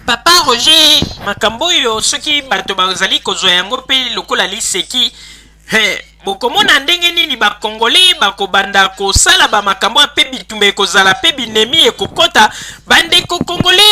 Papa Roger, makambo oyo soki bato bazali kozwa yango mpe lokola liseki, he, bokomona ndenge nini bakongole bakobanda kosala bamakambo ya mpe bitumba ekozala mpe binemi ekokota bandeko kongole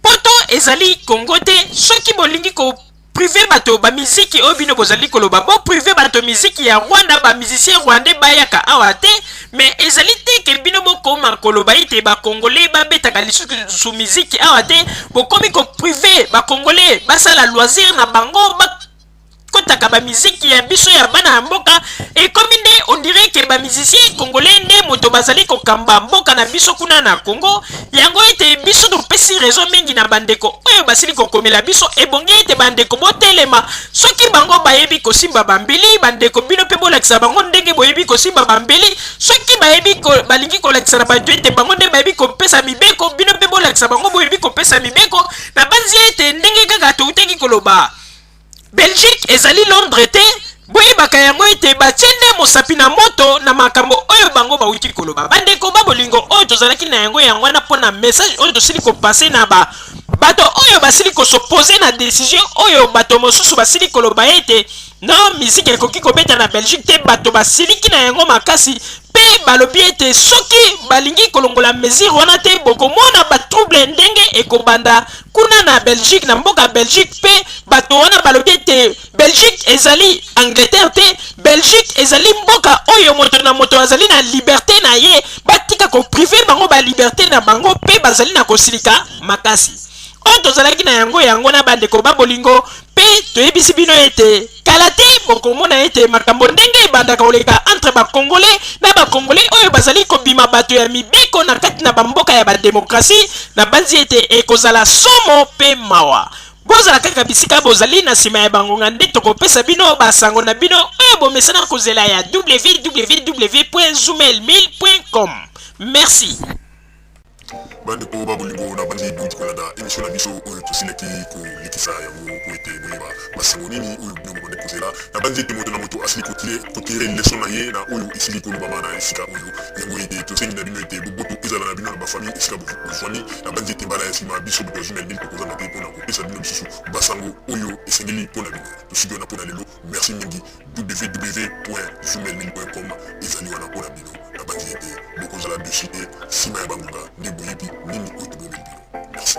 poto ezali kongo te soki bolingi ko prive bato ba miziki oyo bino bozali koloba bo prive bato miziki ya rwanda ba musicien rwandais bayaka awa te mais ezali te ke bino bokoma koloba ete bakongole babetaka lisusu miziki awa te bokomi koprive bakongole basala loisir na bango bakotaka bamiziki ya biso ya bana ya mboka ekomi nde ondire ke bamizisien congolais nde moto bazali kokamba mboka na biso kuna na congo yango ete biso topesi rezo mingi na bandeko oyo basili kokomela biso ebongi ete bandeko botelema soki bango bayebi kosimba bambeli bandeko bino mpe bolakisa bango ndenge boyebi kosimba bambeli soki bayebi ko, balingi kolakisa na bato ete bango nde bayebi kopesa mibeko bino mpe bolakisa bango boyebi kopesa mibeko nabanzi ete ndenge kaka toutaki koloba Belgique ezali Londres te, boyebaka yango ete batie nde mosapi na moto na makambo oyo bango bawuti koloba. Bandeko ba bolingo oyo tozalaki na yango yango wana mpo na message oyo tosili kopase na ba bato oyo basili kosopose na decision oyo bato mosusu basili koloba ete no miziki ekoki kobeta na Belgique te, bato basiliki na yango makasi mpe balobi ete soki balingi kolongola mesure wana te bokomona ba trouble ndenge ekobanda Kuna na Belgique, na mboka Belgique pe bato wana balobi ete Belgique ezali Angleterre te, Belgique ezali mboka oyo moto na moto azali na liberte na ye, batika ko priver bango ba liberte na bango pe bazali na kosilika makasi. Oyo tozalaki na yango yango na bandeko ba bolingo Mpe toyebisi bino ete kala te bokomona ete makambo ndenge ebandaka koleka entre bakongole na bakongole oyo bazali kobima bato ya mibeko na kati na bamboka ya bademokrasi nabanzi ete ekozala somo mpe mawa bozala kaka bisika bozali na nsima ya bangonga nde tokopesa bino basango na bino oyo bomesana kozela ya www.zumail1000.com merci Bandeko ba bolingo, nabandi boni kolanda emission na biso oyo tosilaki kolekisa yango po ete boyeba basango nini oyo bino bobandi kozela. Nabandi ete moto na moto asili kotire kotire leson na ye na oyo esili kolobama na esika oyo. Yango ete tosengi na bino ete boboto ezala na bino na bafamille esika bofwami. Nabandi ete mbala ya sima biso bato ya Zumel Bin tokozanga te po na kopesa bino lisusu basango oyo esengeli po na bino. Tosuki wana po na lelo. Merci mingi www.zumelmine.com ezali wana mpo na bino na banzi ete bokozala dusu te nsima ya bangonga nde boyebi nini oyo tobomeli bino merci